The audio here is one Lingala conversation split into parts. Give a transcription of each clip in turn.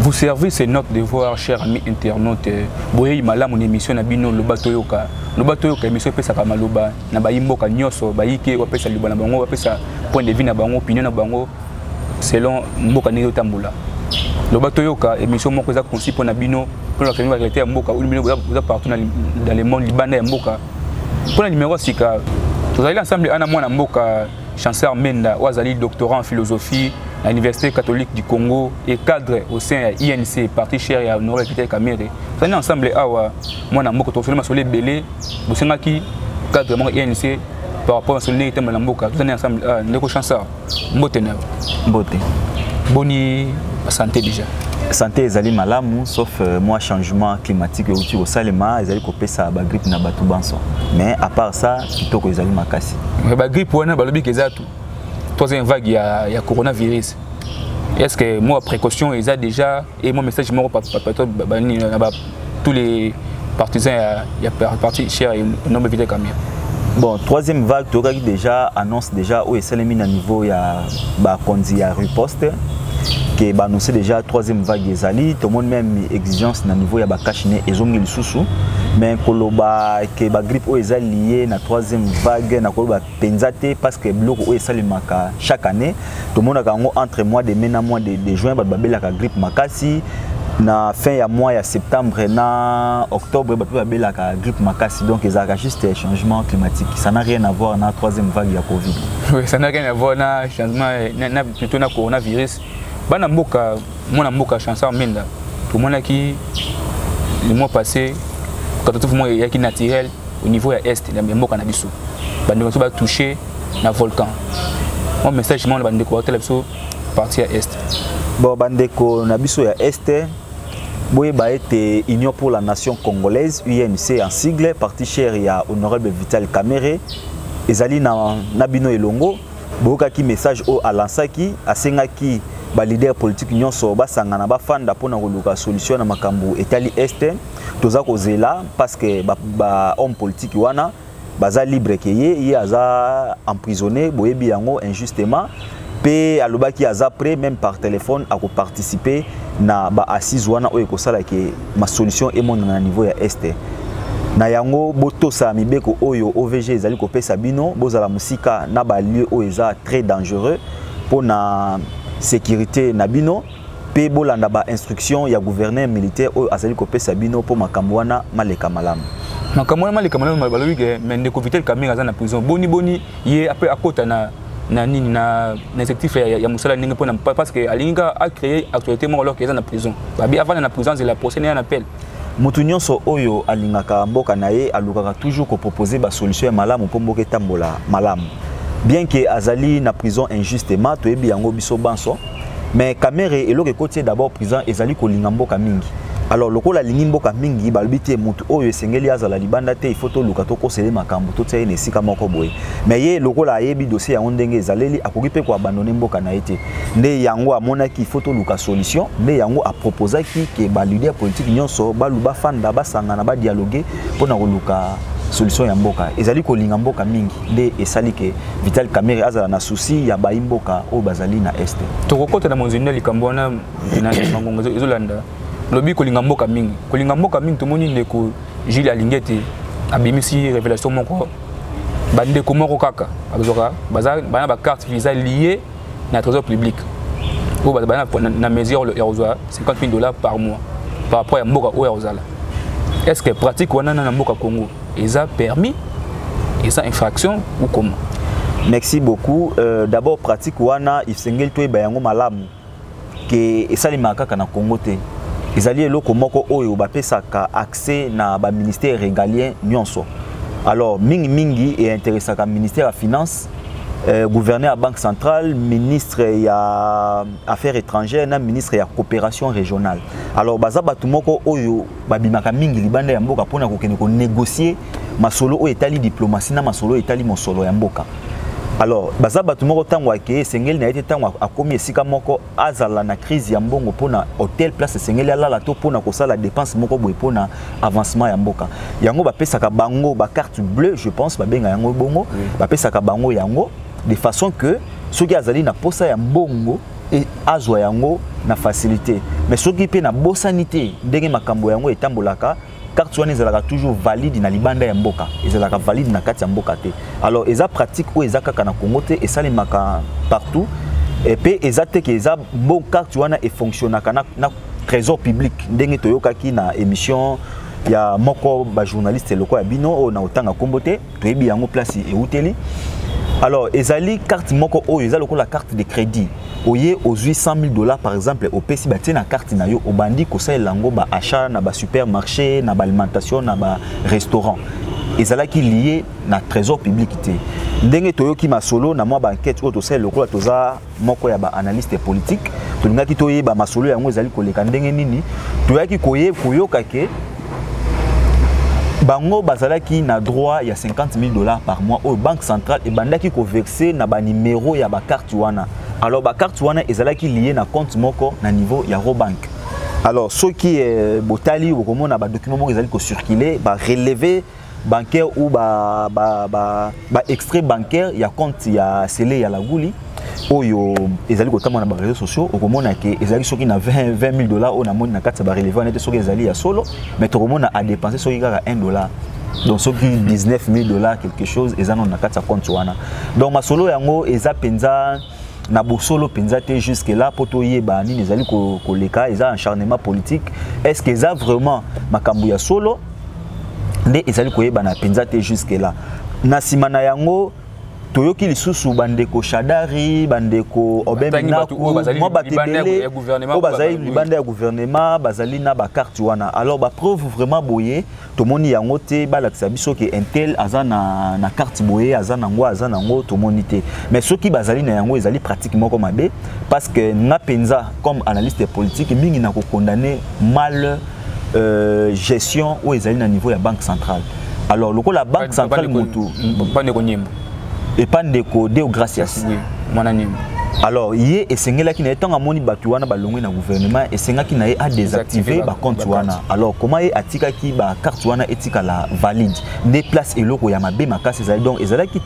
Vous servez, c'est notre devoir, cher ami internaute. Boyei malamu na émission na bino loba toyoka. Loba toyoka émission epesaka maloba na bayi mboka nyonso, bayi ke bapesa liloba na bango, bapesa point de vue na bango, opinion na bango selon mboka ndenge otambola. Loba toyoka émission moko eza conçu mpo na bino, mpo na famille ya mboka, oyo bino boza partout dans le monde libanda ya mboka. Mpo na numéro sika, tozali ensemble ana mwana mboka Chancellor Menda, oyo azali doctorat en philosophie à l'Université catholique du Congo et cadre au sein ya INC, parti cher ya Honoré Peter Kamere. Tozali ensemble awa mwana mboka tosoli masolo ebele bosengaki cadre moko INC par rapport na solo ndenge etembola na mboka tozali ensemble awa ndeko Chancellor mbote na yo. Mbote. Boni santé déjà. santé ezali malamu sauf euh, mwa changement climatique euti kosalema ezali kopesa bagrippe na bato banso mais à part ça kitoko ezali makasi mais ba grippe wana balobi ke eza troisième vague ya, ya coronavirus est ce que moi précaution eza déjà et moi message moko na tous les partisans ya, ya parti cher et non éviter kamia bon troisième vague tokaki déjà annonce déjà oyo esalemi na niveau ya ba konzi ya riposte que ba annoncer déjà troisième vague ezali tout le monde même exigence na niveau ya ba cash ne ezongi lisusu mais koloba que ba grippe oyo eza lié na troisième vague na koloba penza te parce que biloko oyo esalemaka chaque année tomonaka yango entre mois de mai na mois de, de juin bato babelaka grippe makasi na fin ya mois ya septembre na octobre bato babelaka grippe makasi donc ezalaka juste changement climatique ça n'a rien à voir na troisième vague ya covid esanaki na voi na changement plutôt na coronavirus bana mboka mwana mboka chanson menda tomonaki le mois passé catastrophe moko eyaki naturel au niveau ya est ya mboka na biso bandeko biso batouche na volcan mwa message moko na bandeko baotala biso parti ya est bon bandeko na biso ya est boyeba ete union pour la nation congolaise unc en sigle parti cher ya honorable vital camere ezali na, na bino elongo boyokaki message oyo alansaki asengaki baleader politique nyonso basangana bafanda mpo na koluka solution na makambo etali este toza kozela parce que bahomme politique wana baza libre ke ye ye aza emprisonné boyebi yango injustement mpe alobaki aza prêt même par téléphone akoparticipe na baassise wana oyo ekosala ke masolution emonana na niveau ya este na yango botosa mibeko oyo ovg ezali kopesa bino bozala mosika na balieu oyo eza très dangereux mpo na sécurité na bino mpe bolanda bainstruction ya gouverneur militaire oyo azali kopesa bino mpo makambo wana maleka malamu makambo wana maleka malamu balobi ke me ndeko vitel kamere aza na prison boni boni ye apre akota na na nini na na effectif ya, ya musala ndenge pona parce que alingi ka a créer actualité moko alors que eza na prison babi avant na prison zela procès na appel moto nyonso oyo alingaka mboka na ye alukaka toujours kopropose basolution ya malamu mpo mboka etambola malamu bien ke azali na prison injustement toyebi yango biso banso mais kamere eloko ekoti ye d'abord président ezali kolinga mboka mingi alors lokola alingi mboka mingi balobi te motu oyo esengeli azala libanda te ifo toluka tokosele makambo totia ye na esika moko boye me ye lokola ayebi dossier yango ndenge ezaleli akoki mpe koabandone mboka na ye te nde yango amonaki ifo toluka solution nde yango aproposaki ke balider politike nyonso balu bafanda basangana badialoge mpo na koluka solution ya mboka ezali kolinga mboka mingi nde esali ke vital kamere azala na souci ya bayi mboka oyo bazali na este tokokota na monzeni na likambo wana na mangongo ezolanda lobi kolinga mboka mingi kolinga mboka mingi tomoni ndeko jules alingi ete abimisi révélation moko bandeko moko kaka bazwaka bana bacarte eza lie na trésor public oyo bazala na mesure ya kozwa 50 000 dollars par mois par rapport ya mboka oyo akozala est ce que pratique wana na mboka congo eza permis eza infraction ou comment merci beaucoup euh, d'abord pratique wana esengeli toyeba yango malamu ke esalemaka kaka na congo te ezali eloko moko oyo bapesaka accès na baministère régalien nyonso alors mingimingi einteressaka ministère ya finance euh, gouverneur ya banque centrale ministre ya affaires étrangères na ministre ya coopération régionale alors baza bato moko oyo babimaka mingi libanda ya mboka mpona kokende konegocie masolo oyo etali diplomatie na masolo oyo etali mosolo ya mboka alors baza bato moko ntango akei esengeli na ye te ntango akomi esika moko azala na crise ya mbongo mpo na hotel place esengeli alala to mpo na kosala dépense moko boye mpo na avancement ya mboka yango bapesaka bango bacarte bleue je pense babenga yango bongo bapesaka bango yango de façon que soki azali na mposa ya mbongo e, azwa yango na facilité mais soki mpe nabosani te ndenge makambo yango etambolaka carte wana ezalaka toujours valide na libanda ya mboka ezalaka valide na kati ya mboka te alors eza pratique oyo eza kaka na congo te esalemaka partout mpe eza te ke eza bon carte wana efonctionnaka na, na trésor public ndenge toyokaki na émission ya moko bajournaliste eloko ya bino oyo na otanga nkombo te toyebi yango place euteli alors ezali carte moko oyo eza lokola carte de crédit oye ozwi 100 000 dollars par exemple opesi batie na carte na yo obandi kosalela yango baachat na basupermarché na baalimentation na barestaurant ezalaki lie na trésor public te ndenge toyoki masolo na mwa baenquete oyo tosalela lokola toza moko ya ba analyste politique tolingaki toyeba masolo yango ezali koleka ndenge nini toyaki koye koyoka ke bango bazalaki na droit ya 50 000 dollars par mois oyo banque centrale ebandaki koverse na banimero ya bakarte wana alors bakarte wana ezalaki lie na compte moko na niveau ya robank alors soki eh, botali okomona badocument moko ezali kocircule bareleve bancaire ou ba ba ba, ba extrait bancaire ya compte ya Sele ya Laguli oyo ezali kotambwa na bareseau sociaux okomona ke ezali soki na 20 000 dollars oyo namoni na kati ya bareleva nete soki ezali ya solo mais tokomona adepense soki kaka 1 dollar donc soki 19 000 dollars quelque chose eza nano na kati ya compte wana donc masolo yango eza mpenza na bosolo mpenza te jusque là mpo toyeba nini ezali koleka eza acharnement politique est ce que eza vraiment makambo ya solo nde ezali koyebana mpenza te jusque là na nsima na yango toyoki lisusu bandeko shadari bandeko obeminakmwa bato ebele oyo bazali libanda ya guvernema bazali na bakarte wana alors bapreuve vraiment boye tomoni yango te balakisa biso ke intel aza na, na carte boye aza nango aza nango tomoni te mais soki bazali na yango ezali pratique moko mabe parce que nga mpenza comme analyste politique mingi na kokondane mal euh, gestion oyo ezali na niveau ya banque centrale alors lokola banque centrale motu epa ndeko deo gracias oui. mwana nyembo alors ye esengelaki na ye ntango amoni bato wana balongwe na gouvernement esengaki na ye adésactive bacompte wana alors koma ye atikaki bacarte wana etikala valide nde place eloko ya mabe makasi ezali donc ezalaki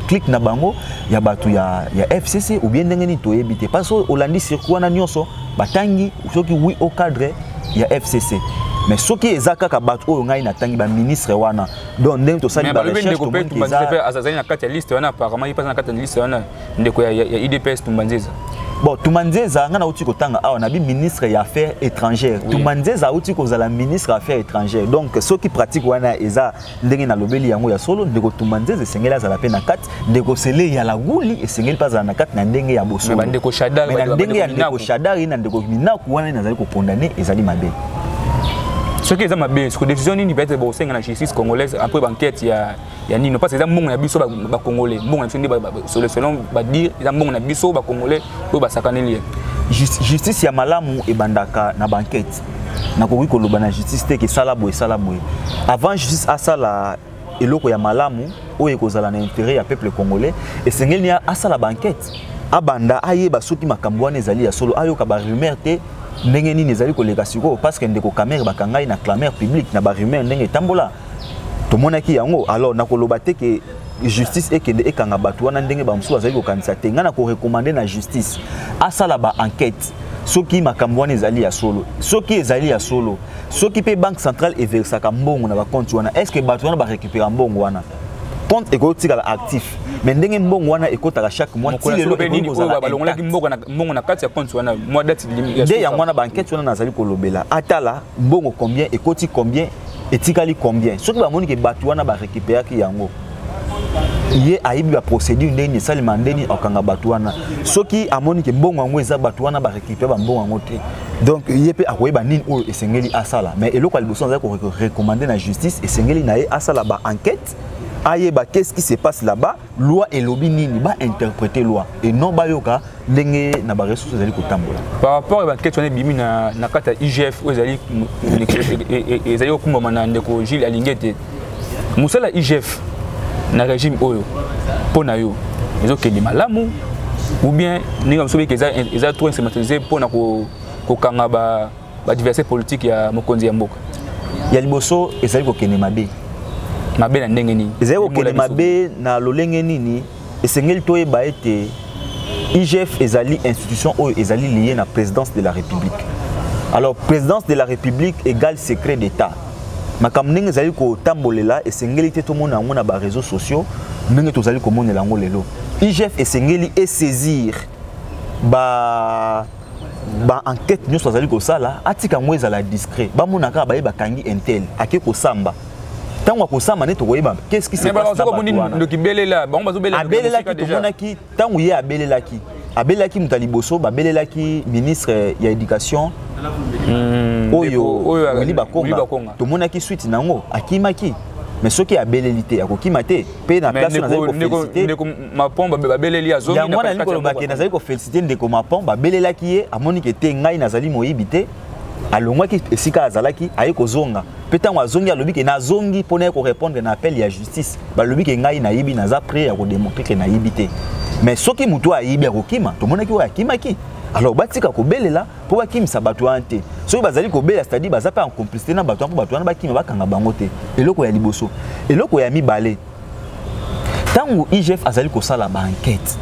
clique na bango ya bato ya, ya fcc ou bien ndenge nini toyebi te parce que olandi circuit wana nyonso batangi soki oui au cadre ya fcc mais soki eza kaka bato oyo ngai natangi baministre wana donc ndenge tosali barechercheazali na kati ya liste wana apparemment ye mpe aza na kati ya liste wana ndeko ya idps tumbanzeza bon tumanzeza ngai nauti kotanga awa nabi ministre ya affaires étrangères oui. tumanzeza auti kozala ministre ya affaires étrangères donc soki pratique wana eza ndenge nalobeli yango ya solo ndeko tumanzeza esengeli azala mpe na kati ndeko sele ya laguli esengeli mpe azala na kati na ndenge ya bosolo ndeko shadari na ndenge ya ndeko shadari na ndeko minaku wana nazali kokondane ezali mabe soki eza mabe soko décision nini peut-être bokosenga na justice congolaise après banquête ya ya nino parce eza mbongo na biso bacongolais mbongo na biso nde selon badire eza mbongo na biso bacongolais oyo basakaneli ye justice ya malamu ebandaka na banquête nakoki koloba na justice te ke esala boye esala boye avant justice asala eloko ya malamu oyo ekozala na intérêt ya peuple congolais esengeli ni asala ba enquête abanda ayeba soki makambo wana ezali ya solo ayoka ba rumeur te ndenge nini ezali koleka sikoyo parce que ndeko Kamerhe bakangai na clameur publique na ba rumeur ndenge etambola tomonaki yango alors nakoloba te ke justice ekende ekanga bato wana ndenge bamosusu bazali kokanisa te ngai nakorekomande na justice asala ba enquête soki makambo wana ezali ya solo soki ezali ya solo soki mpe banque centrale everisaka mbongo na bakonti wana est ce que bato wana barécupéra mbongo wana compte ekoki kotikala actif mais ndenge mbongo wana ekotaka chaque mois ti lelo ekoki kozalabalongolaki mbongo na kati ya compte wana mwa date nde yango wana bankete wana nazali kolobela atala mbongo combien ekoti combien etikali combien soki bamoni ke bato wana barécupéraki yango ye ayebi baprocédure ndenge nini esalema ndenge nini akanga bato wana soki amoni ke mbongo yango eza bato wana barécupere bambongo yango te donc ye mpe akoyeba nini oyo esengeli asala mais eloko ya liboso azali korecommande na justice esengeli na ye asala baenquête ayeba qu'est ce qui se passe là-bas loi elobi nini bainterprete loi et non bayoka ndenge na ba ressources ezali kotambola par rapport ya bankete wana ebimi na, na kati ya igf oyo ezali ezali kokumbama na ndeko gile alingi ete mosala ya igf na régime oyo mpo na yo ezokende malamu ou bien ndenge mosusu beke eza trop instrumentalisé mpo na kokanga ba, ba diversité politique ya mokonzi ya mboka ya liboso ezali kokende mabe mabe na ndenge nini ezali kokende mabe na lolenge nini esengeli toyeba ete igf ezali institution oyo ezali liye na présidence de la république alors présidence de la république égale secret d'état makambo ndenge ezali kotambolela esengeli te tomona yango na bareseau sociaux ndenge tozali komonela yango lelo igf esengeli esaisir ba baenquête nyonso azali kosala atika yango ezala discret bamona kaka baye bakangi intel ake kosamba ntango akosama nde tokoyeba qu'est-ce qui s'est passé abelelaki tomonaki ntango ye abelelaki abelelaki moto ya liboso babelelaki ministre ya éducation hmm, oyo wili bakonga tomonaki suite na yango akimaki mais soki abeleli te akokima te mpe na place oyo nazali koféliciteyango wana nalingi kolobake nazali kofélicite ndeko mapon babelelaki ye amonike te ngai nazali moyibi te alongwaki esika azalaki aye kozonga mpe ntango azongi alobi ke nazongi mpo naye korépondre na appel ya justice balobi ke ngai nayibi naza près ya kodemontre ke nayibi te mais soki motu ayibi akokima tomonaki oyo akimaki alors batika kobelela mpo bakimisa bato wana te soki bazali kobelela cetadi baza mpe en complicité na bato wana mpo bato wana bakima bakanga bango te eloko ya liboso eloko ya mibale ntango igf azali kosala baankete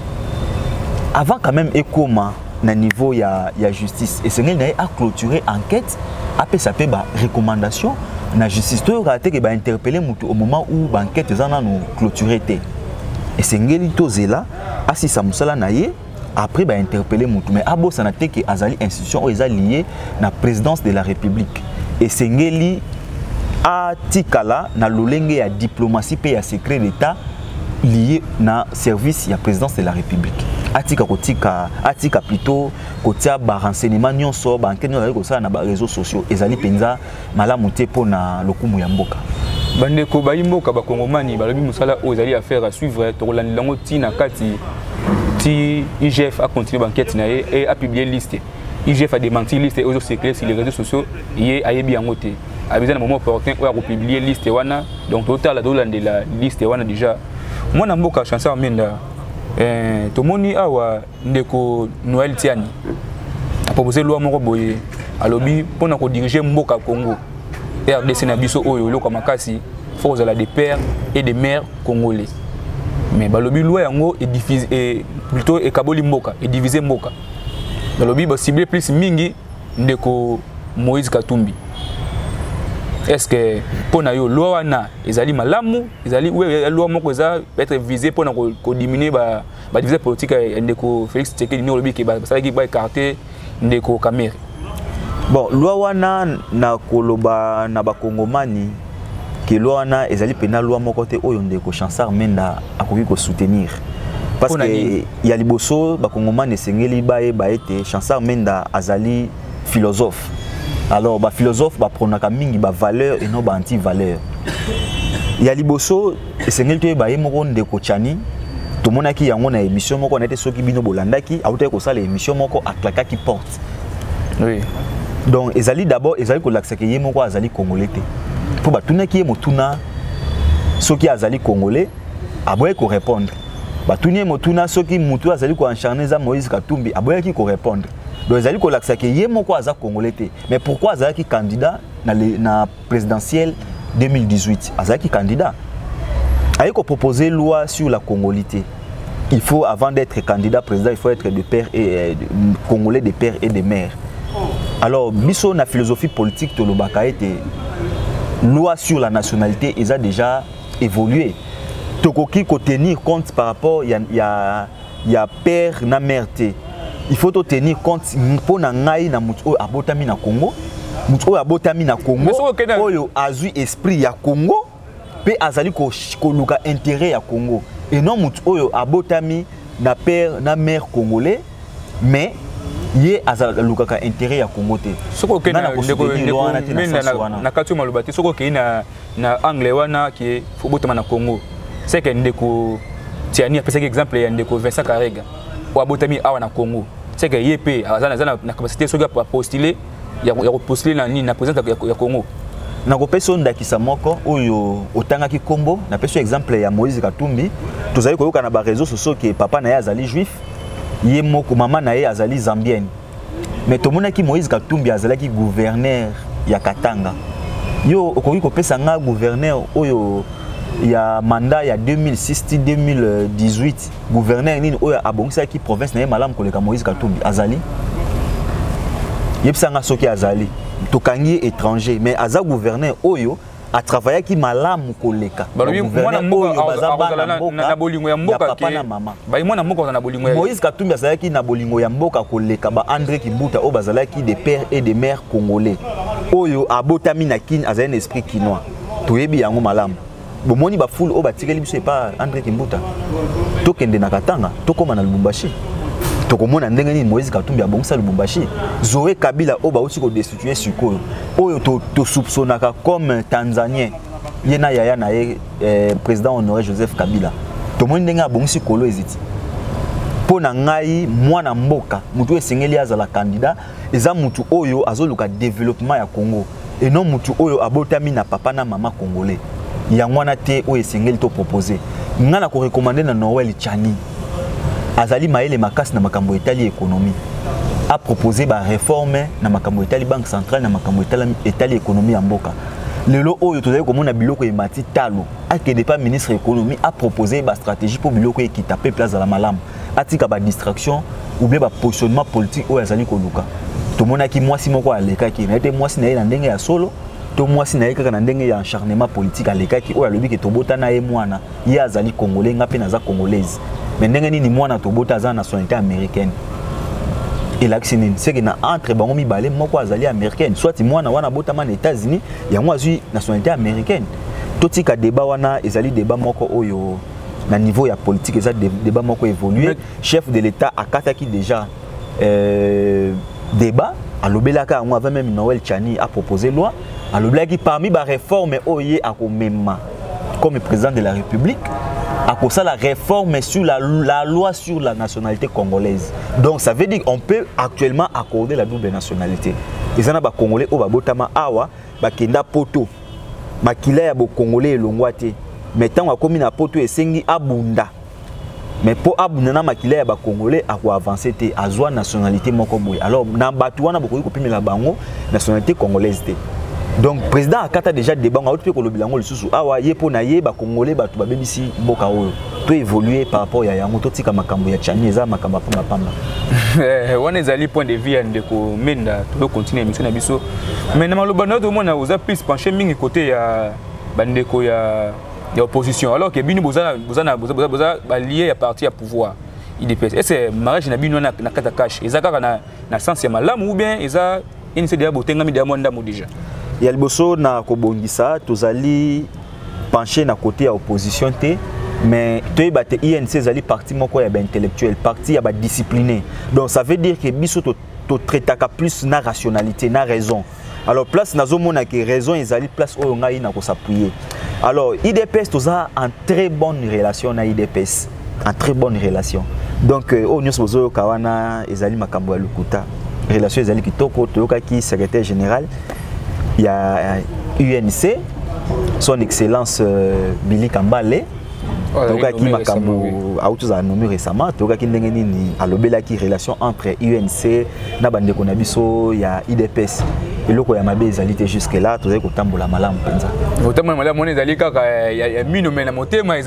avant quand même ekoma na niveau ya, ya justice esengeli na ye aclôture enquête apesa mpe barecommandation na justice toyokaka te ke bainterpele motu au moment où baenquête eza nano clôture te esengeli tozela asisa mosala na ye après ba interpeller mutu mais abosana te que azali institution oyo eza liée na présidence de la république esengeli atikala na lolenge ya diplomatie mpe ya secret d'état lié na service ya présidence de la république atika kotika atika plutôt kotia barenseignement nyonso bankete nyonso azali kosala na bareseau sociaux ezali mpenza malamu te mpo na lokumu ya mboka bandeko bayi mboka bakongomani balobi mosala oyo ezali affaire à suivre tokolandela yango ti na kati ti igf acontinue bankete na ye e apublie liste igf adementi liste oyo ezocircule sur les réseaux sociaux ye ayebi yango te abeza na moment opportun oyo akopublie liste wana donc totala tolandela liste wana déjà mwana mboka chanceur menda eh, tomoni awa ndeko noel tiani apropose loi moko boye alobi mpo na kodirige mboka congo rdc na biso oyo eloko ya makasi fo kozala de père et de mère congolais mais balobi loi yango e, plutôt ekaboli mboka edivise mboka balobi basible plus mingi ndeko moïse katumbi est ce que mpo na yo loi wana ezali malamu ezali loi moko eza peut-être vise mpo na kodiminue ba ba diviser politique ya ndeko Felix Tshisekedi ni olobi ke ba salaki ba écarter ndeko Kamere bon loi wana na koloba na ba kongomani ke loi wana ezali pena loi moko te oyo ndeko Chansar Menda akoki ko soutenir parce que ya liboso ba kongomani esengeli ba ye ba ete Chansar Menda azali philosophe alors ba philosophe ba pronaka mingi ba valeur et non ba anti valeur ya liboso esengeli toyeba ye moko ndeko chani tomonaki yango na émission moko na ete soki bino bolandaki autaki kosala émission moko aklakaki porte oui. donc ezali d'abord ezali kolakisa ke ye moko azali congolais te mpo batunaki ye motuna soki azali congolais aboyaki korépondre batuni ye motuna soki motu azali koencharne eza moïse katumbi aboyaki korépondre donc ezali kolakisa ke ye moko aza congolais te mais pourquoi azalaki candidat na, na présidentielle 2018 azalaki candidat aye kopropose loi sur la congolité il faut avant d'être candidat président il faut être de père et euh, de, congolais de père et de mère alors biso na philosophie politique tolobaka ete loi sur la nationalité eza déjà évolué tokoki kotenir compte par rapport ya, ya ya père na mère te il faut to tenir compte mpo na ngai na moto oyo abotami na congo moto oyo abotami na congo oyo azwi esprit ya congo mpe azali koluka ko intérêt ya congo et non moto oyo abotami na père na mère congolais mais ye azalukaka intérêt ya congo te soki okei na kati oyo maloba te soki okei na na angle wana ke fobotama na congo seke ndeko tiani apesaki exemple ya ndeko vincent karega oyo abotami awa na congo seke ye mpe aza na capacité soki apostule ya kopostule na nini na présidence ya congo nakopesa yo ndakisa moko oyo otangaki nkombo napesi yo exemple ya moïse katumbi tozali koyoka na bareseau sociaux ke papa na ye azali juif ye moko mama na ye azali zambienne mais tomonaki moïse katumbi azalaki gouverneur ya katanga yo okoki kopesa nga gouverneur oyo ya mandat ya 2006 ti 2018 gouverneur nini oyo abongisaki province na ye malamu koleka moïse katumbi azali yebisa nga soki azali tokangi ye étranger mais aza gouverneur oyo atravayaki malamu koleka na bolingo ya mboka na mama mwana mboka aza na bolingo moïse katumbi azalaki na bolingo ya mboka koleka ba andré kibuta oyo bazalaki de père et de mère congolais oyo abotami na kin azali na esprit kinois toyebi yango malamu bomoni bafoule oyo batikeli biso epa andré kimbuta tokende na katanga tokóma na lubumbashi tokomona ndenge nini moïse katumbi abongisa lubumbashi zoe kabila oyo bauti kodesu tu es sikoyo oyo tosoupçonnaka to comme tanzanien ye na yaya na ye eh, président honoré joseph kabila tomoni ndenge abongisi kolo eziti mpo na ngai mwana mboka motu oyo esengeli azala kandida eza motu oyo azoluka développement ya congo et non motu oyo abotami na papa na mama congolais yango wana te oyo esengeli topropose ngai na korekomande na noel chani azali mayele makasi na makambo etali ekonomi apropose bareforme na makambo etali banque centrale na makambo etali ekonomi ya mboka lelo oyo tozali komona biloko emati talo akende mpa ministre ya ekonomi apropose bastratégie mpo biloko ekita peuple azala malamu atika badistraction oubien bapositionnement politique oyo azali koluka tomonaki mwasi moko alekaki naye te mwasi na ye na ndenge ya solo to mwasi na ye kaka na ndenge ya acharnement politique alekaki oyo alobi ke tobota na ye mwana ye azali congolais nga mpe naza congolaise mais ndenge nini mwana tobota aza nationalité américaine elakisi nini seke na entre bango mibale moko azali américaine soit mwana wana abotama na états-unis yango azwi nationalité américaine totika débat wana ezali débat moko oyo na niveau ya politique eza débat moko évolué chef de l'état akataki déjà euh, débat alobelaka yango avant même noël chani apropose loi alobelaki parmi baréforme oyo ye akomema comme président de la république akosala réforme sur la, la loi sur la nationalité congolaise donc ça veut dire on peut actuellement accorder la double nationalité eza na bacongolais oyo babotama awa bakenda poto makila ya bocongolais elongwa te mais ntango akomi na poto esengi abunda mais mpo abunda na makila ya bacongolais akoavanse te azwa nationalité moko boye alors na bato wana bokoki kopimela bango nationalité congolaise te donc président akata déjà débat ngo auti mpe kolobela yango lisusu awa ye mpo na ye bacongolais bato babebisi mboka oyo to évolue par rapport ya yango totika makambo ya chani eza makambo ya pambapamba eh, wana ezali point de vue ya ndeko menda toyo continue émission na biso mais na maloba na yo tomona oza plus penché mingi côté ya bandeko ya ya opposition alors que bino boza boza na boza boza balie ya parti ya pouvoir idps est ce mariage na bino na na kata cash eza kaka na na sens ya malamu ou bien eza ini c'est déjà botengami déjà mwa ndambo déjà ya liboso na kobongisa tozali penche na côté ya opposition te mais toyeba te inc ezali parti moko ya baintellectuel parti ya badiscipline donc ça veut dire que biso totraitaka plus na rationalité na raison alors place nazomona ke raison ezali place oyo ngai nakosappuye alors idps toza en très bonne relation na idps en très bonne relation donc euh, oyo nyonso bozoyoka wana ezali makambo ya lokuta relation ezali kitoko toyokaki secrétaire général ya unc son excellence euh, billy kambale toyokaki makambo auti ozala nomi récemment toyokaki ndenge nini alobelaki relation entre unc na bandeko na biso ya idps eloko ya mabe ezali te jusque là tozali kotambola malamu mpenza kotambola malamu wana ezali kaka ya mino me na motema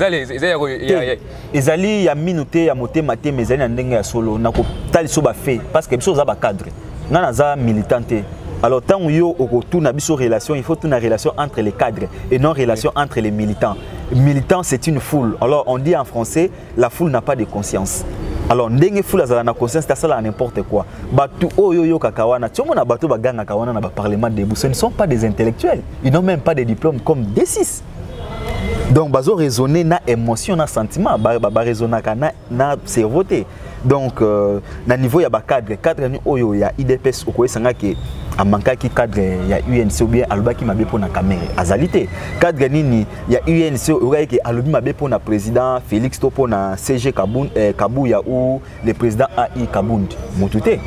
ezali ya mino te ya motema te me ezali na ndenge ya solo na kotalisa bafe parce que biso oza bacadre ngai naza militant te alors ntango yo okotuna biso relation il faut tuna relation entre les cadres et non relation entre les militants militant c'est une foule alors on dit en français la foule n'a pas de conscience alors ndenge foule azala na conscience tasala n'importe quoi bato oyo oyokaka wana tiomona bato bagangaka wana na baparlement debout ce ne sont pas des intellectuels ils n'ont même pas de diplôme comme d6 donc bazo raisonner na émotion na sentiment baresonnaka ba, ba na, na cerveau te donc euh, na niveau ya bacadre cadre ni oyo ya idps okoyesa nga ke amankaki cadre ya unc ou bien alobaki mabe mpo na kamere azali te cadre nini ya unc oyokaki ke alobi mabe mpo na président félix to mpo na cg Kabun, eh, kabuya ou le président ai kabund motu te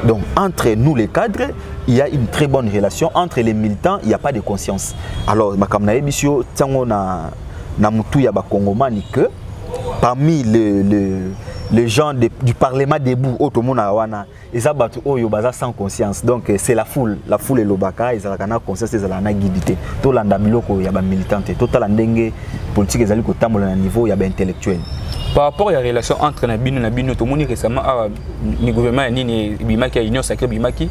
donc entre nous les cadres il y a une très bonne relation entre les militants il n'y a pas de conscience alors makambo nayebisi yo ntango na, na motu ya bakongomani que parmi le, le, les gens de, du parlement debout oyo tomonaka wana eza bato oyo baza sans conscience donc euh, c'est la foule la foule elobaka ezalaka na conscience ezalaka na guide te tolanda biloko ya bamilitant te totala ndenge politique ezali kotambola na niveau ya baintellectuel par rapport ya relation entre na bino na bino tomoni récemment awa ni gouvernement ya nini ebimaki ya union sacré ebimaki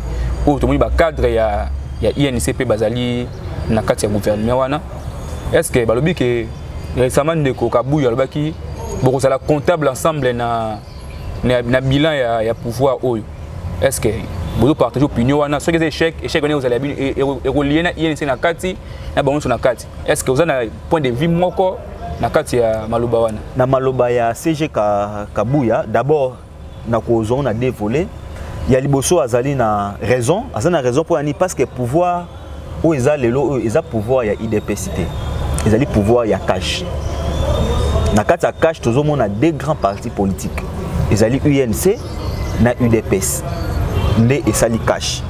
oyo tomoni bacadre ya, ya inc mpe bazali na kati ya gouvernement wana est ce que balobi ke Récemment, Ndeko Kabuya alobaki bokozala comptable ensemble na na, na bilan ya, ya pouvoir oyo. Est-ce que vous partagez opinion wana soki eza échec échec wana ekozala ekolie na inc na kati na bango nyonso na kati est ce que oza na point de vue moko na kati ya maloba wana na maloba ya cg kabuya d'abord na kozwa ngo na deux volets ya liboso azali na raison azali na raison mpo ya nini parce que pouvoir oyo eza lelo oyo eza pouvoir ya idps te ezali pouvoir ya cash na kati ya cash tozomona deux grands partis politiques ezali unc na udps nde esali cash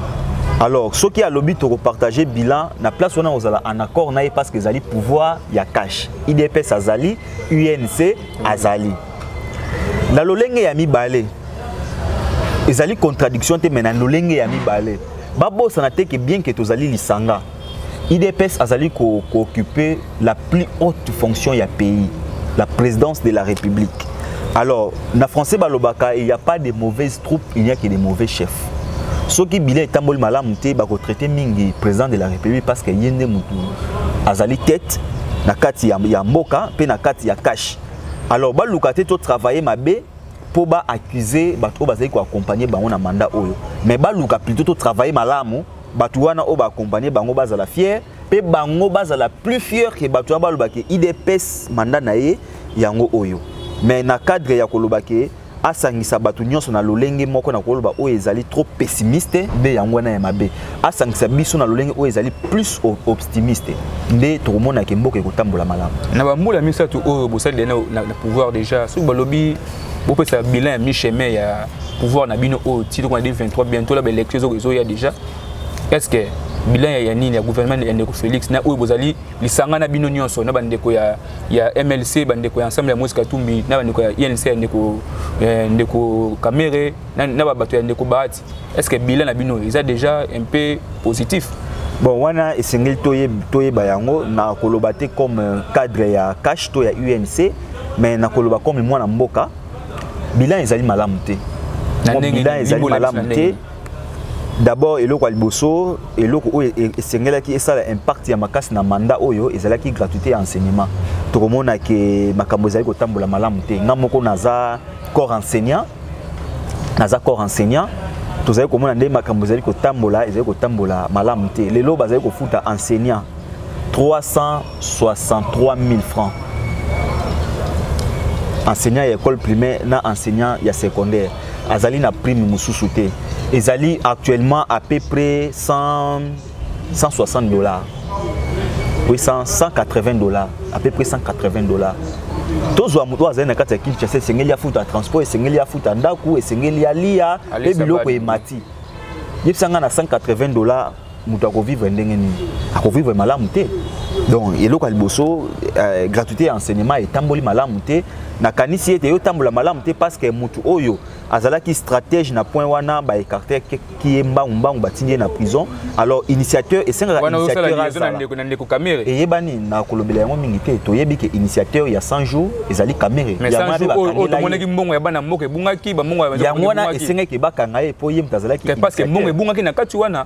alors soki alobi tokopartage bilan na place wana kozala en accord na ye parce que ezali pouvoir ya cash idps azali unc azali na lolenge ya mibale ezali contradiction te mais na lolenge ya mibale babosana te ke bien ke tozali lisanga idps azali kooccupe ko la plus haute fonction ya pays la présidence de la république alors na français balobaka il n'y a pas de mauvaises troupes il n'y a que de mauvais chefs soki bilan etamboli malamu te bakotraite mingi président de la république parce que ye nde motu azali tete na kati ya, ya mboka mpe na kati ya kashe alors baluka te to travailler mabe mpo ba accuser bato oyo bazali koaccompagne bango na mandat oyo mais baluka plutôt to travailler malamu bato wana oyo baakompagne bango bazala fier mpe bango bazala plus fier ke bato wana baloba ke idps mandat na ye yango oyo mais na cadre ya koloba ke asangisa bato nyonso na lolenge moko na koloba oyo ezali trop pessimiste nde yango wana ya mabe asangisa biso na lolenge oyo ezali plus optimiste nde tokomona ke mboka ekotambola malamu na bambula misato oyo bosali na, na, na pouvoir déjà soki balobi bopesa bilan ya mi-chemin ya pouvoir na bino oyo ti tokona 23 bientôt la baélection ezoya déjà est ce que bilan ya nini ya gouvernement ya ndeko félix na oyo bozali lisanga na bino nyonso na bandeko ya, ya mlc bandeko ya ensemble ya moise katumbi na bandeko ya inc ya ndeko, eh, ndeko kamere na, na babato ya ndeko bahati est ce que bilan na bino eza déjà un peu positif bon wana esengeli toyeba yango na koloba te comme euh, cadre ya cash to ya unc mais na koloba comme mwana mboka bilan ezali malamu te bilan ezali malamu te d'abord eloko ya liboso eloko oyo e, e, esengelaki esala impact ya makasi na mandat oyo ezalaki gratuité ya enseignement tokomona ke makambo ezali kotambola malamu te nga moko naza corps enseignant naza corps enseignant tozali komona nde makambo ezali kotambola ezali kotambola malamu te lelo bazali kofuta enseignant 363 000 francs enseignant ya école primaire na enseignant ya secondaire azali na prime mosusu te ezali actuellement à peu près 100, 160 dollars oui 100, 180 dollars à peu près 180 dollars tozwa moto oyo azali na kati ya kinshasa esengeli afuta transport esengeli afuta ndako esengeli alia mpe biloko emati yebisa ngai na 180 dollars moto akovivre ndenge nini akovivre malamu te donc eloko ya liboso euh, gratuité ya enseignement etamboli malamu te nakanisi ete eyotambola malamu te parce que moto oyo azalaki stratège na point wana baécarte ki ye mbangumbangu batindi ye na prison alors initiateur esengaka initiateur azala eyebani na kolobela yango mingi te toyebi ke initiateur ya 100 jours ezali kamere omonaki mbongo ya bana mboka ebungaki yango wana esengaki bakanga ye mpo ye moto azalaki parce que mbongo ebungaki na kati wana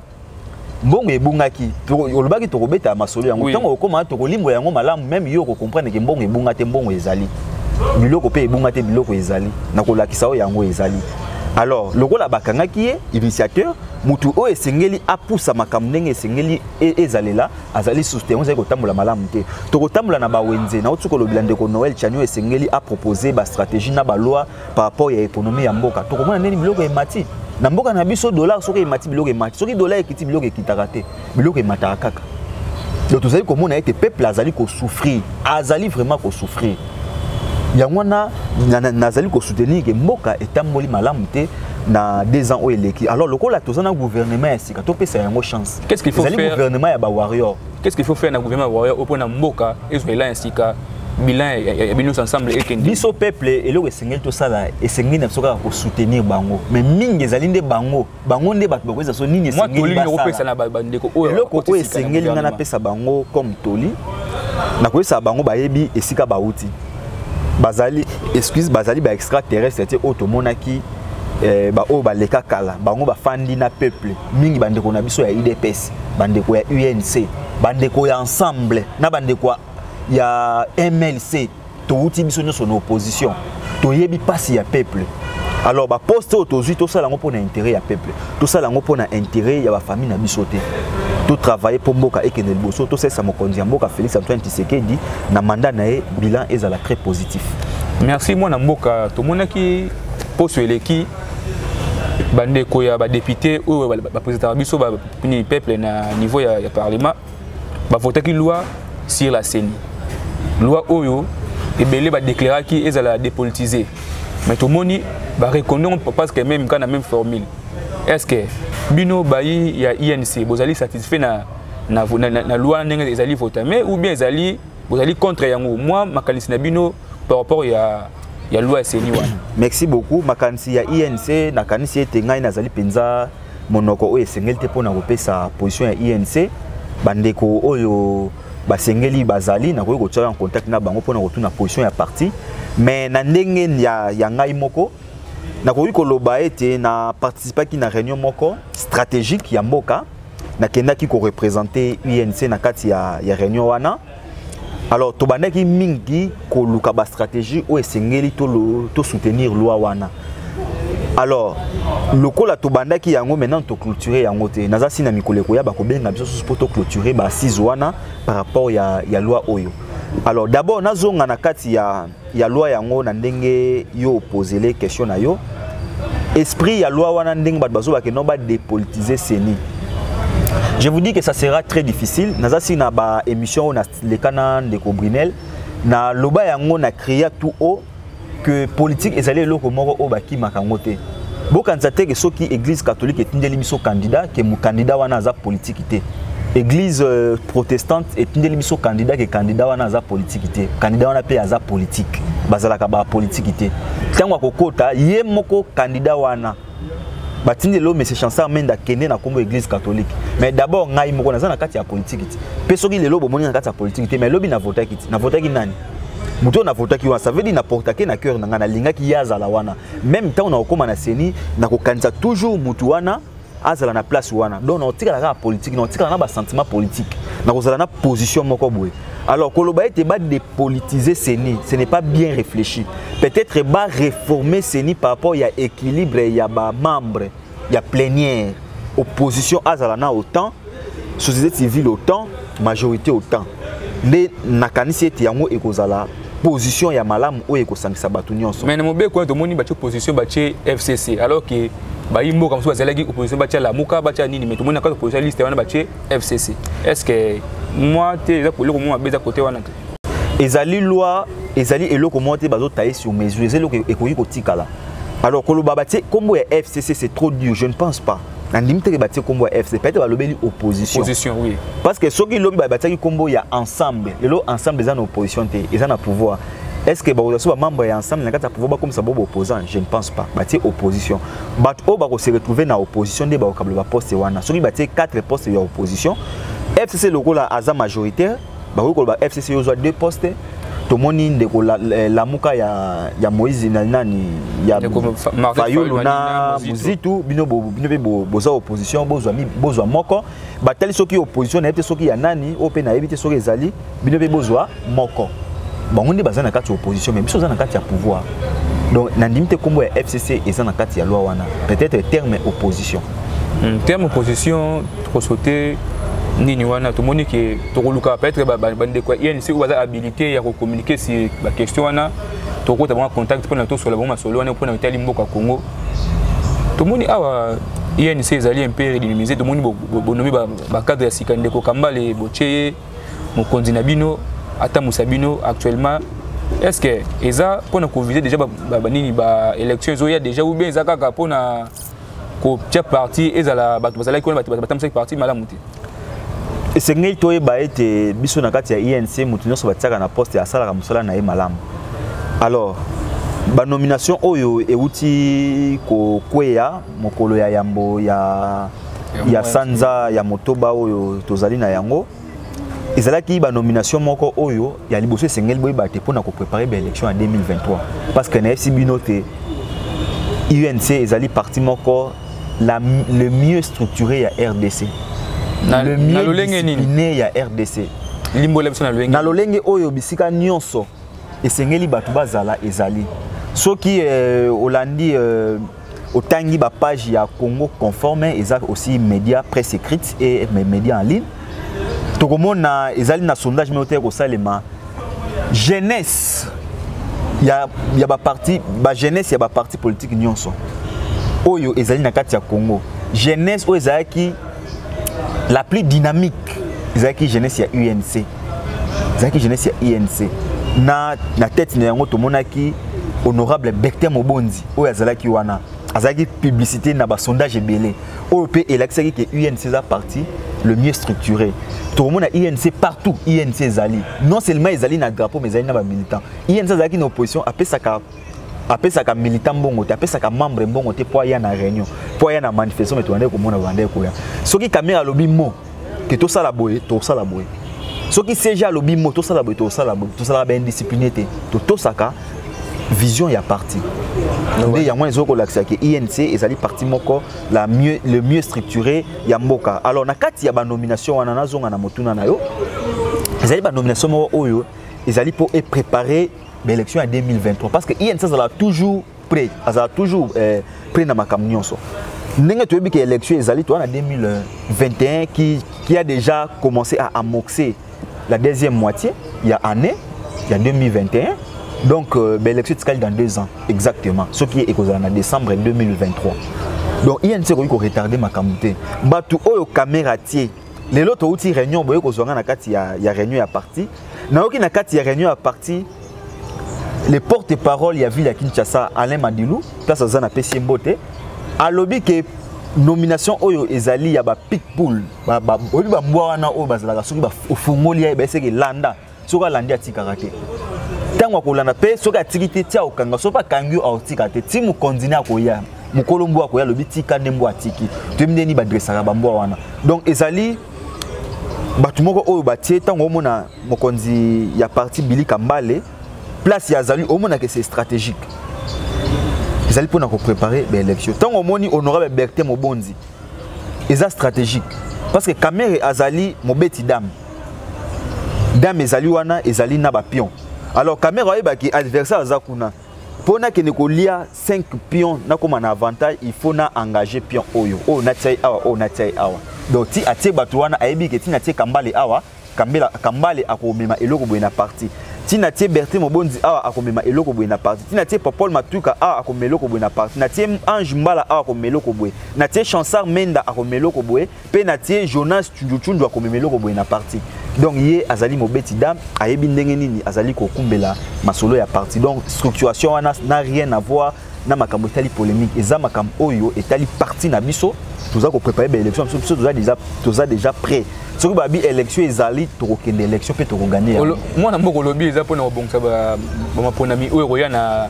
mbongo ebungaki olobaki tokobeta masolo yango ntango okoma tokolimbola yango malamu meme yo okokomprendre ke mbongo ebunga te mbongo ezali biloko mpe ebunga te biloko ezali na kolakisa oyo yango ezali alors lokola bakangaki ye initiateur motu oyo esengeli apusa makambo ndenge esengeli e, ezalela azali susu te yango ezali kotambola malamu te tokotambola na bawenze na otuka olobela ndeko noel chanio esengeli apropose bastratégie na baloi par rapport ya économie ya mboka tokomona ndeni biloko emati na mboka na biso dollar soki emati biloko emati soki dollar ekiti biloko ekitaka te biloko emataka kaka donc tozali komona ete peuple azali kosouffrir azali vraiment kosouffrir yango wana nazali kosoutenir ke mboka etamboli malamu te na deux ans oyo eleki alors lokola toza na gouvernement ya sika topesa yango chance Qu'est-ce qu'il faut faire? Ezali gouvernement ya ba warrior. Qu'est-ce qu'il faut faire na gouvernement ya warrior opo na mboka ezwa ela ya sika bilan ya bino ensemble ekende. Biso peuple eloko esengeli tosala esengeli na biso kaka ko soutenir bango. Mais mingi ezali nde bango. Bango nde bato bakoyesa so nini esengeli basala. Moi toli kopesa na ba ndeko oyo. Eloko oyo esengeli nga napesa bango comme toli. Nakoyesa bango bayebi esika bauti. bazali excuse bazali ba extraterrestre te oyo tomonaki eh, baoyo baleka kala bango bafandi na peuple mingi bandeko na biso ya udps bandeko ya unc bandeko ya ensemble na bandeko ya mlc towuti biso nyonso na opposition toyebi mpasi ya peuple alors baposte oyo tozwi tosala yango mpo na intérêt ya peuple tosala yango mpo na intérêt ya bafamille na biso te totravaille mpo mboka ekende liboso tosalisa mokonzi ya mboka félix antoine tshisekedi na mandat na ye bilan ezala très positif merci mwana mboka tomonaki poso eleki bandeko ya badepute oyo bapresentaka biso bapeuple na niveau ya, ya parlement bavotaki loi sur la ceni loi oyo ebele badeklaraki ezala ya dépolitise mais tomoni bareconnaire parce que même kaka na même formule est ce que bino bayi ya inc bozali satisfait na, na, na, na, na loi ndenge ezali votame ou bien ezali bozali contre yango mwa makanisi na bino par rapport ya ya loi ya seni wana merci beaucoup makanisi ya inc nakanisi ete ngai nazali mpenza monoko oyo esengeli te mpo na kopesa position ya inc bandeko oyo basengeli bazali nakoki kotya en contact na bango mpo na kotuna position ya parti mais na ndenge ya, ya ngai moko nakoki koloba ete na participaki na réunion moko stratégique ya mboka nakendaki korepresente unc na kati ya, ya réunion wana alors tobandaki mingi koluka bastratégie oyo esengeli tosoutenir to loi wana alors lokola tobandaki yango maintenant toclôture yango te naza si na mikolo ekoya bakobenga biso susu mpo toclôture baasise wana par rapport ya, ya loi oyo alors d'abord nazonga na kati ya ya loi yango na ndenge yo opozele question na yo esprit ya loi wana ndenge bato bazobake no badepolitise seni je vous dis que ça sera très difficile naza si na baémission oyo naleka na ndeko brinel na loba yango na cria tout haut que politique ezali eloko moko oyo bakimaka yango te bokanisa te ke soki église catholique etindeli biso candidat ke candidat wana aza politique te église euh, protestante etindeli biso candidat ke candidat wana aza politique te candidat wana mpe aza politique bazalaka ba politique te ntango akokota ye moko candidat wana batindeli oyo monsieur chansar menda akende na nkombo église catholique mais d'abord ngai moko naza na kati ya politiki ti mpe soki lelo bomoni na kati ya politiki te mais lobi navotaki ti navotaki nani moto oyo navotaki wana ça veut dire na portake na cœur na ngai nalingaki ye azala wana meme ntango nakokóma na ceni nakokanisa toujours motu wana azala na place wana donc nakotikala kaka politike nakotikala na basentiment politike nakozala na position moko boye alors koloba ete badepolitise ceni ce n'est pas bien réfléchi peut-être baréforme ceni par rapport ya équilibre ya bamembre ya plenière opposition azala na autant société civile autant majorité autant nde nakanisi ete yango ekozala position ya malamu oyo ekosangisa bato nyonso mais na mobeko wana tomoni batye opposition batye fcc alors que bayi mboka mosusu bazalaki opposition batya lamuka batya nini mais tomoni na kati opposition liste wana batye fcc est ce que mwa te eza eloko mwa mabe eza kote wana te ezali loi ezali eloko moko te bazotaye sur mesure eza eloko ekoki kotikala alors koloba batie nkombo ya fcc c'est trop dur je ne pense pas nandimi te ke batie nkombo ya fcc peut-être balobeli opposition opposition oui parce que soki lobi batiaki nkombo ya ensemble lelo ensemble eza na opposition te eza na pouvoir est ce que bakozwa so bamembre ya ensemble na kati ya pouvoir bakomisa bo baopposant je ne pense pas batie opposition bato oyo bakose retrouve na opposition nde bakokabla baposte wana soki batie 4 poste ya opposition fcc lokola aza majoritaire bakoki koloba fcc ozwa deux postes tomoni ndeko eh, lamuka ya, ya moïse na nani ya fayulu na muzitu bino mpe boza opposition bozwa moko batali soki opposition nayebi te soki ya nani oyo mpe nayebi te soki ezali bino mpe bozwa moko bango nde baza na kati ya opposition mais biso oza na kati ya pouvoir donc nandimi te nkombo ya fcc eza na kati ya loi wana peut-être terme opposition hmm, terme opposition kosote nini wana tomoni ke tokoluka peut-être bandeko ya inc oyo baza habilité ya kocommuniquer si baquestion wana tokota bango contact mpona tosola bango masolo wana mpona etali mboka congo tomoni awa inc ezali mpe redynamiser tomoni bonomi bacadre ya sika ndeko kambale botie ye mokonzi na bino atambusa bino actuellement est ce que eza mpona kovise déjà banini baélection ezoya déjà ou bien eza kaka mpona ba kotia parti ezala bato bazalaki wana bato batambisaki parti malamu te esengeli toyeba ete biso na kati ya inc e moto nyonso batiaka na poste asalaka mosala na ye malamu alors banomination oyo euti kokweya mokolo ya yambo ya, ya sanza ya motoba oyo tozali na yango ezalaki ba nomination moko oyo ya liboso esengeli boyeba te mpona koprépare ba élection ya 2023 parce que nayebisi bino te unc ezali parti moko la, le mieux structuré ya rdc na, le mieux discipliné ya rdc limbola biso na lolenge na lolenge oyo bisika nyonso esengeli bato bazala ezali soki euh, olandi euh, otangi ba page ya Congo conforme eza aussi média presse écrite et média en ligne tokomona ezali na sondage moko te kosalema jeunesse ya ya ba parti ba jeunesse ya ba parti politique nyonso oyo ezali na kati ya Congo jeunesse oyo ezalaki la plus dynamique ezalaki jeunesse ya UNC ezalaki jeunesse ya UNC na na tête na yango tomonaki honorable Bectin Mobondi oyo azalaki wana azalaki publicité na basondage ebele oyo mpe elakisaki ke unc eza parti le mieux structuré tokomona inc partout inc ezali non seulement ezali na drapeau mais ezali na bamilitant inc azalaki na opposition apesaka apesaka militant mbongo te apesaka membre mbongo te mpo aya na réunion mpo aya na manifestation me tobandaki komona babandaki koya soki kamere alobi mo ke tosala boye tokosala boye soki cg alobi mo tosala boye tokosala boye tosalaka baindiscipline te totosaka vision ya parti nde yango ezoki kolakisa ke inc ezali parti moko la mieux, le mieux structuré ya mboka alors na kati ya banomination wana nazonga na motuna na yo ezali banomination moko oyo ezali mpo eprépare baélection ya 2023 parce que inc azala toujours près azala toujours eh, près na makambo nyonso ndenge toyebi ke élection ezali toa na 2021 qui, qui a déjà commencé à amorcer la deuxième moitié ya année ya 2021 donc euh, baélection etikali dans deux ans exactement soki ekozala na décembre 2023 donc inc ekoki koretarde makambo te bato oyo kamera atie lelo touti réunion boye kozwa ngai na kati ya, ya réunion ya parti nayoki na kati ya réunion ya parti le porte-parole ya ville ya Kinshasa Alain Madilu place aza na pesi mbote alobi ke nomination oyo ezali ya ba pitbull ba ba oyebi ba mbwa wana oyo bazalaka soki ba ofungoli ya baseke landa soki alandi atikaka te ntango akolanda mpe soki atiki te ti akokanga soki akangi yo akotika te ti mokonzi ne akoya mokolo mbwa akoya alobi tika nde mbwa atiki toyebi ndeni badresaka bambwa wana donc ezali bato moko oyo batie ntango omona mokonzi ya parti bili kambale place ya azali omonaka ese stratégique ezali mpona koprépare baélection ntango omoni honorable bertin mobonzi eza stratégique parce que kamere azali mobeti dame dame ezali wana ezali na bapion alors kamere ayebaki adversaire aza kuna mpo nakende kolia 5 pion nakóma na avantage il faut na engage pion oyo oyo natia ye awa oyo natia ye awa donc ti atie bato wana ayebi ke ntina atie kambale awa kambela kambale akomema eloko boye na parti ntina atie bertin mobonzi awa akomema eloko boye na parti ntina atie popol matuka awa akomema eloko boye na parti natie ange mbala awa akomema eloko boye natie chansar menda akomema eloko boye mpe na tie jonas cunjucunju akomema eloko boye na parti donc ye azali mobeti dame ayebi ndenge nini azali kokumbela masolo ya parti donc structuration wana na rien avoir na makambo etali polémique eza makambo oyo etali parti na biso toza koprépare baélection biso biso toza déjà, toza déjà prêt soki babi élection ezali tokokende élection mpe tokoganye mwana mboka olobi eza mpona kobongisa bamaponami oyo ekoya na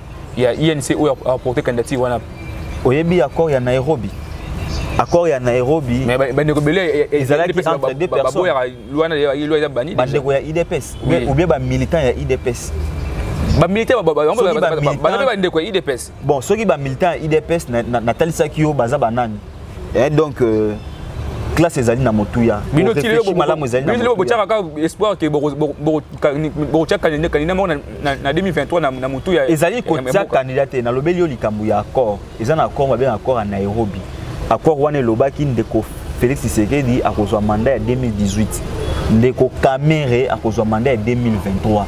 ya INC oyo a porter candidature wana oyebi accord ya Nairobi accord ya Nairobi mais bandeko bele ezalaki entre deux personnes baboyaka loi na loi ya bani bandeko ya IDPS ou bien ba militants ya IDPS bamilitaire yango bandeko ya idps bon soki bamilitaire ya idps natalisaki yo baza banani eh, donc euh, classe ezali na motuya malamu ezali na motuya botyaka kaka espoir ke bokotya kandida moko na 2023 na motuya ezali kotya kandida te nalobeli yo likambo ya accord eza na accord babenga accord ya nairobi accord wana elobaki ndeko félix tshisekedi akozwa manda ya 2018 ndeko kamere akozwa manda ya 2023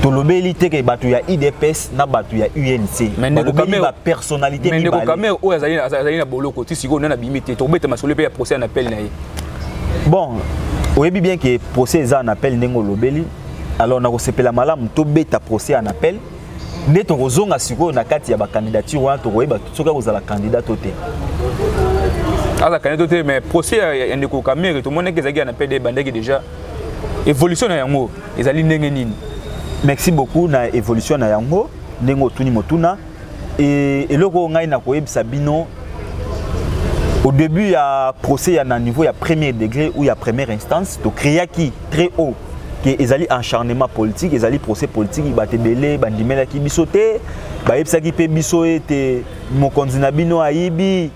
tolobeli te ke bato ya idps na bato ya UNC balobeli ba personnalité mibale. Ndeko Kamerhe oyo azali azali na boloko ti sikoyo nani abimi te tokobeta masolo mpe ya procès na appel na ye. Bon, oyebi bien que procès eza na appel ndenge olobeli alors nakosepela malamu tobeta procès en appel nde tokozonga sikoyo na kati ya bakandidature wana tokoyeba soki akozala kandida to te aza kandida to te mais procès ya ndeko kamere tomonaki ezalaki ya na pede ebandaki déjà evolution na yango ezali ndenge nini merci beaucoup na evolution na yango ndenge otuni motuna e, eloko oyo ngai nakoyebisa bino au début ya procès ya na niveau ya premier degré ou ya première instance tokreaki très haut ke ezali encharnement politique ezali procès politique bato ebele bandimelaki biso te bayebisaki mpe biso ete mokonzi na bino ayibi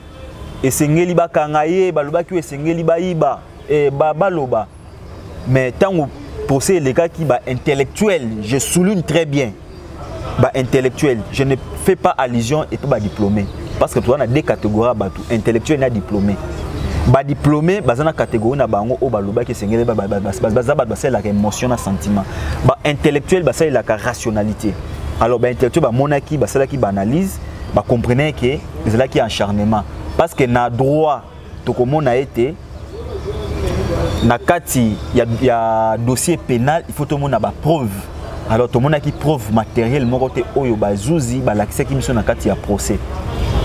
esengeli bakanga ye balobaki oyo esengeli bayiba eh, ba baloba mais ntango procès elekaki ba intellectuel je souligne très bien ba intellectuel je ne fais pas allusion epe ba diplômé parce que toza na deux catégorie ya bato intellectuel na diplômé badiplôme baza na catégorie na bango oyo balobaki esengeli baza bato basalelaka émotion na sentiment baintellectuel basalelaka rationalité alors baintellectuel bamonaki basalaki baanalyse bacomprenaki ezalaki encharnement parce que na droit tokomona ete na kati ya, ya dossier pénal il faut tomona ba preuve alors tomonaki preuve matériel moko te oyo bazuzi balakisaki biso na kati ya procès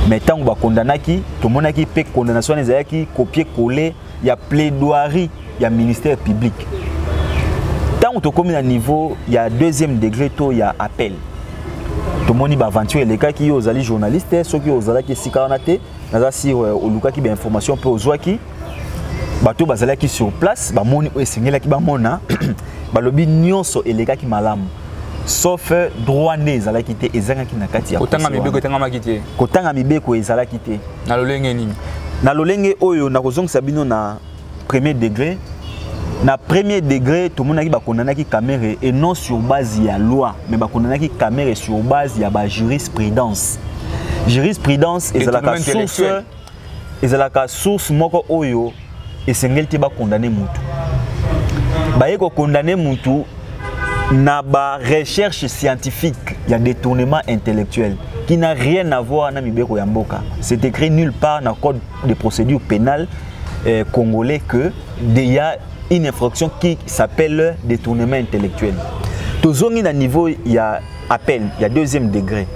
mais ntango bakondanaki tomonaki mpe condamnation wana ezalaki copie colle ya plaidoirie ya ministère public ntango tokomi na niveau ya deuxième degré to ya appel tomoni baaventure elekaki yo ozali journaliste soki ozalaki esika wana te naza sur euh, olukaki ba information mpe ozwaki bato bazalaki sur place bamoni oyo esengelaki bamona balobi nyonso elekaki malamu sauf euh, droit nde ezalaki te ezangaki na kati ya kotanga mibeko etangamaki te kotanga mibeko ezalaki te na lolenge nini na lolenge oyo nakozongisa bino na premier degré na premier degré tomonaki bakondanaki kamere et non sur base ya loi mais bakondanaki kamere sur base ya bajurisprudence jurisprudence ezalaka source ezalaka source moko oyo esengeli te bakondane motu baye kokondane motu na ba recherche scientifique ya détournement intellectuel qui n'a rien à voir na mibeko ya mboka c'est écrit nulle part na code de procédure pénale eh, congolais que il y a une infraction qui s'appelle détournement intellectuel tozongi na niveau ya appel ya deuxième degré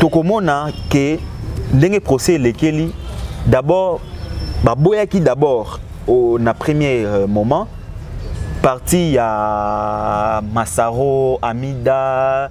tokomona ke ndenge procès elekeli d'abord baboyaki d'abord na premier euh, moment parti ya masaro amida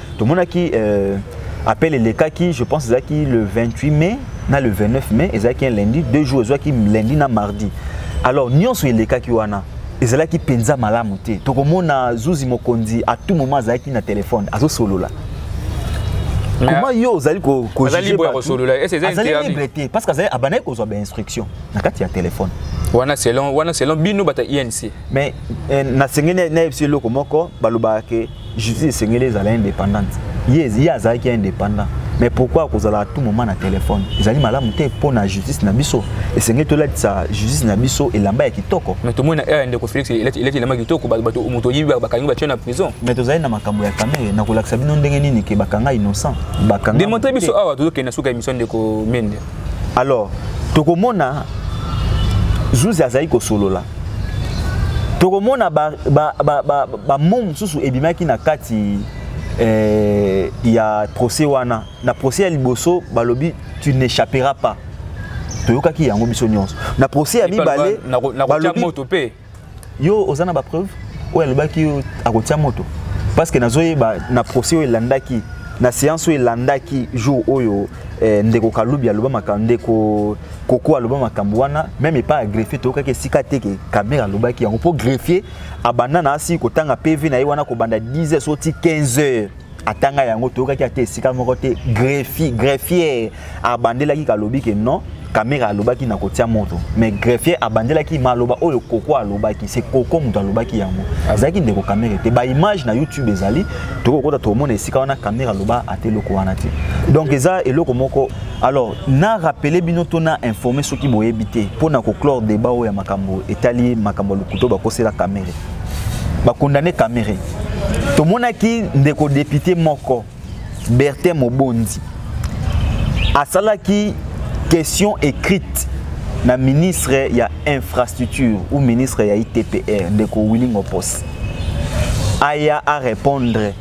tomonaki euh, appel elekaki je pense ezalaki le 28 mai na le 29 mai ezalaki un lundi deux jours ezwaki lundi na mardi alors nyonso elekaki wana ezalaki mpenza malamu te tokomona zuzi mokonzi à tout moment azalaki na telefone azosolola comment yo ozali koazali libre te parce que abandaki kozwa bainstruction na kati ya telefone wana selon wana selon bino bata inc mais eh, nasengeli nayebisi eloko moko balobaka ke justice esengeli ezala indépendante ye ye azalaki indépendant mais pourquoi akozala tout moment na téléphone ezali malamu te mpo na justice na biso esengeli tolatisa justice na biso elamba ya kitoko mais tomoni na heure ya ndeko félix elati elamba ya kitoko bato moto oyibi bakangi batye na prison mais tozali na makambo ya kamere na kolakisa bino ndenge nini ke bakanga innocent bakanga demontre biso awa tozokende na suka émission ndeko mende alors tokomona zuzi azali kosolola tokomona bambo mosusu ebimaki na kati eh, ya procès wana na procès ya liboso balobi tu n'échapperas pas toyokaki yango biso nyonso na procès ya mibale moto mpe yo oza na bapreuve oyo alobaki akotia moto parce que nazoyeba na procès oyo elandaki na séance oyo elandaki jour oyo eh, ndeko kalubi aloba makambo ndeko koko aloba makambo wana meme epai ya greffier toyokaki esika te ke kamer alobaki yango mpo greffier abanda na asi kotanga pv na ye wana kobanda 10 heures oti 15 heures atanga yango toyokaki ata esika moko te greffier greffier abandelaki kalobi ke non kamera alobaki na kotia moto mais greffier abandelaki maloba oyo koko alobaki se koko moto alobaki yango azalaki ndeko kamera te baimage na youtube ezali tokokota tokomona esika wana kamera aloba ata eloko wana te donc eza eloko moko alors na rappeler bino to na informer soki boyebi te mpo na koclore débat oyo ya makambo etali makambo ya lokuto bakosela kamere bakondane kamere tomonaki ndeko depute moko bertin mobondi asalaki question écrite na ministre ya infrastructure ou ministre ya itpr ndeko willing opos aya arépondre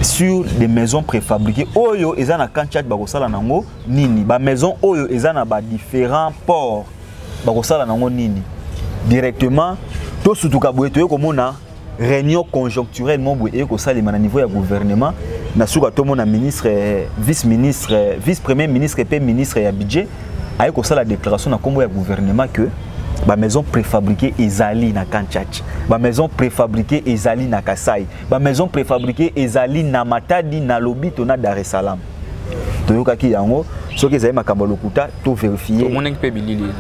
sur des maisons préfabriquées oyo eza na camp tchad bakosala nango nini ba maison oyo eza na ba différents ports bakosala nango nini directement tosutuka boye toye komona réunion conjoncturelle moko boye eye kosalema na niveau ya gouvernement na suka tomona ministre vice ministre vice premier ministre mpe ministre ya budget aye kosala déclaration na nkombo ya gouvernement que ba maison préfabriquée ezali na kanchachi ba maison préfabriquée ezali na kasai ba maison préfabriquée ezali na matadi na lobito na dar es salaam toyokaki yango soki ezali makambo ya lokuta toverifie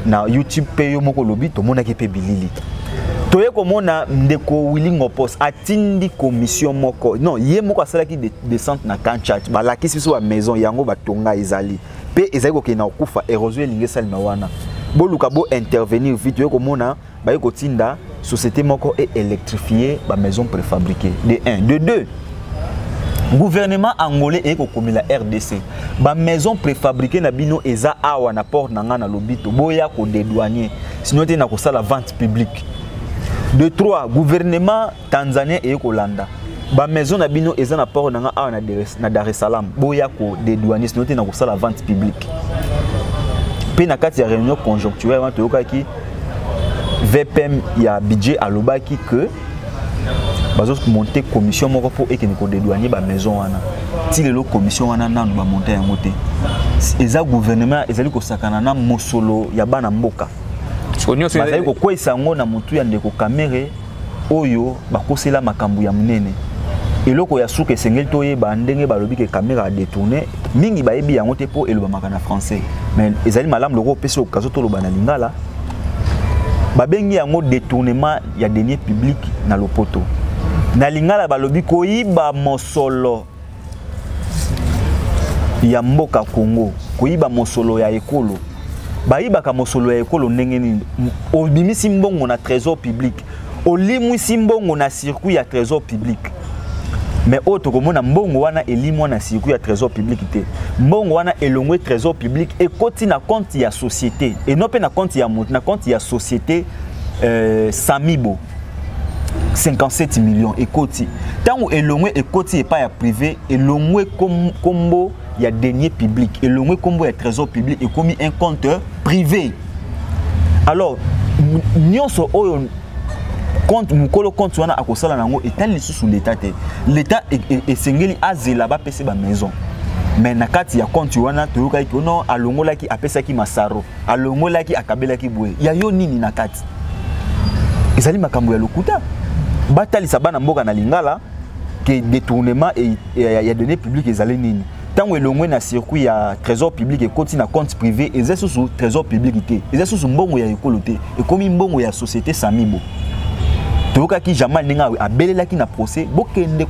na youtube mpe yo moko olobi tomonaki mpe bilili toye komona ndeko willi ngopos atindi commission moko non ye moko asalaki descente na kanchat balakisi biso bamaison yango batonga ezali mpe ezali kokende na kokufa érosion elingi esalema wana boluka bo intervenir vite oye komona baye kotinda société moko e électrifie ba maison préfabriquée de 1 de 2 gouvernement angolais eye kokomela rdc bamaison préfabriqué na bino eza awa na porte na ngai na lobito boya kodedouanier sino te na kosala vente publique de 3 gouvernement tanzanien eye kolanda ba maison na bino eza na port na nga awa na dar es salaam boya ko dedouane sino te na kosala vente publique mpe na kati ya réunion conjoncturelle wana toyokaki vpm ya budget alobaki que bazomonte commission moko mpo ekende kodedouane bamaison wana ti lelo commission wana nanu bamonte yango te eza gouvernement ezali kosakana na mosolo ya bana mboka bazali kokweyisa yango na motu ya ndeko kamere oyo bakosela makambo ya monene eloko ya suka esengeli toyeba ndenge balobi ke kamera adetourne mingi bayebi yango te mpo elobamaka na français mais ezali malamu loko opesi okazo toloba na lingala babengi yango détournement ya denier public na lopoto na lingala balobi koyiba mosolo ya mboka Congo koyiba mosolo ya ekolo bayibaka mosolo ya ekolo ndenge nini obimisi mbongo na trésor public olimwisi mbongo na circuit ya trésor public mais oyo tokomona mbongo wana elimwa na circuit ya trésor public te mbongo wana elongwe trésor public ekoti na compte ya société et non mpe na compte ya moto na compte ya société euh, samibo 57 millions ekoti ntango elongwe ekoti epai ya privé elongwe nkombo ya denier public elongwe nkombo ya trésor public ekomi un compte privé alors nyonso oyo compte mokolo compte wana akosala na yango etali lisusu leta te leta e, e, esengeli azela bapese bamaison mais na kati ya compte wana toyokaki ono alongolaki apesaki masaro alongolaki akabelaki boye ya yo nini na kati ezali makambo ya lokuta batalisa bana mboka na lingala ke détournement ya données publique ezali nini ntango elongwe na circuit ya trésor public ekoti na compte privé eza susu trésor public te eza susu mbongo ya ekolo te ekomi mbongo ya société samibo toyokaki jamal ndenge abelelaki na procès bokende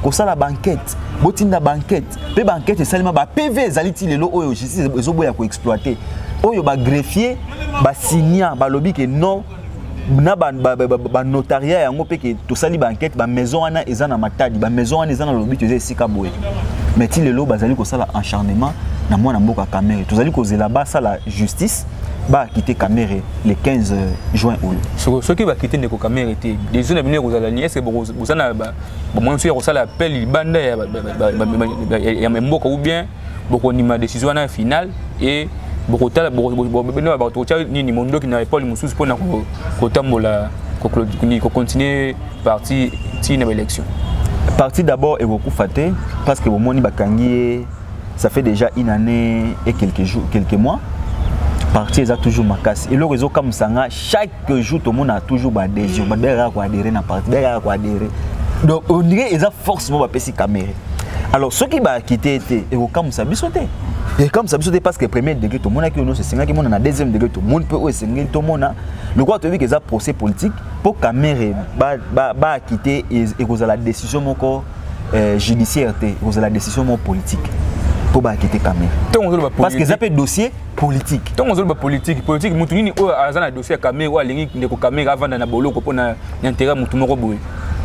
kosala bankete botinda bankete mpe baankete esalema ba pv ezali ti lelo oyo justice ezoboya koexploite oyo bagreffier basinia balobi ke non na banotaria yango mpe ke tosali baankete bamaison wana eza na matadi bamaison wana eza na lobito eza esika boye mais ti lelo bazali kosala encharnement na mwana mboka kamere tozali kozela basala justice bakite kamere le 15 juin oyo soki bakite ndeko kamere te desio na bino ekozala nini est ce que boza na bomoni soki ya kosala appel libanda ya mboka ou bien bokondima décision wana ya finale et bokotala bato kotya nini mondoki na epole mosusu mpona kotambola kocontinue parti tii na baélection parti d'abord ekokufa te parce que bomoni bakangi ye ça fait déjà une année et quelques jours quelques mois parti eza toujours makasi eloko ezokamwisa nga chaque que jour tomona toujours baadhésion bato bayaka koadhere na parti bayaka koadhere donc on dirait eza force moko bapesi kamere alors soki bakite ete ekokamwisa biso te ekamwisa biso te parce que premier degré tomonaki oyo nyonso esengaki mona na deuxième degré tomoni mpe oyo esengeli tomona lokola toyebi ke eza procès politique mpo kamere baakite ekozala décision moko euh, judiciaire te ekozala décision moko politique mpo baakite kamere parce que eza mpe dossier politique ntango ozoloba politique politique motu nini oyo aza na dossier ya kamere oyo alingi ndeko kamere avanda na boloko mpo na intérêt motu moko boye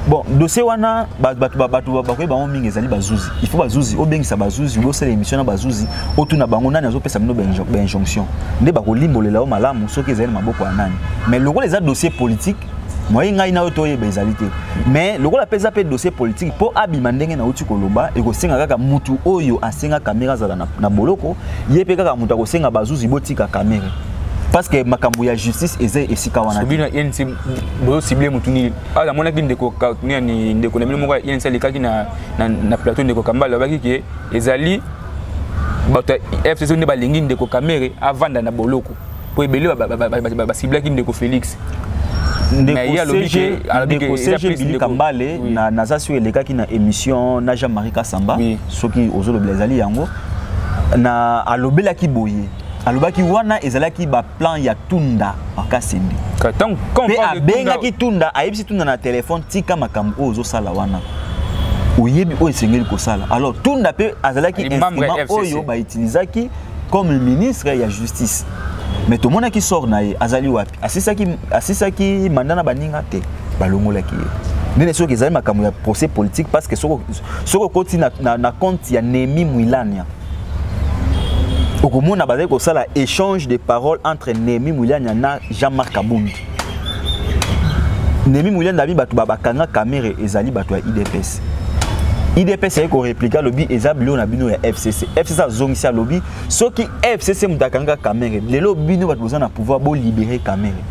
bon dossier wana bato bakoyeba bango mingi ezali bazuzi il faut bazuzi obengisa bazuzi bosala émission na bazuzi otuna bango nani azopesa bino bainjonction nde bakolimbolela yo malamu soki ezali na maboko ya nani mais lokola eza dossier politique moye ngai na yo toyeba ezali te mais lokola mpe eza mpe dossier politique mpo abima ndenge nauti koloba ekosenga kaka mutu oyo asenga kamere azala na, na boloko ye mpe kaka moto akosenga bazuzi botika kamere parce que makambo ya justice eza esika wana bino inc bozosible motu nini awa namonaki ndeko nani ndeko na bino moko ya inc alekaki na, na, na plateau ndeko kambala alobaki ke ezali bato ya fcc nde balingi ndeko kamere avanda na boloko mpo ebele basiblaki ndeko félix ndeko cg bili kambale naza sio elekaki na émission na jean marie kasamba soki ozolobela ezali yango na alobelaki boye alobaki wana ezalaki baplan ya tunda makasende mpe abengaki tunda ayebisi tunda na telefone tika makambo oyo ozosala wana oyebi oyo esengeli kosala alors tunda mpe azalaki instrument oyo bautilisaki comme le ministre ya justice mais tomonaki sort na ye azali wapi asisaki asisaki manda na baninga te balongolaki ye ndene soki ezali makambo ya procès politique parce que soki okoti na, na, na compte ya nemi mwilania okomona bazali kosala échange de parole entre nemi mwilania na jean marc abundi Nemi Muyanda abi bato babakanga kamere ezali bato ya IDPS. IDPS ayaki koreplike alobi eza bilo na bino ya FCC. FCC azongisi alobi soki FCC moto akanga kamere lelo bino bato boza na pouvoir bolibere kamere.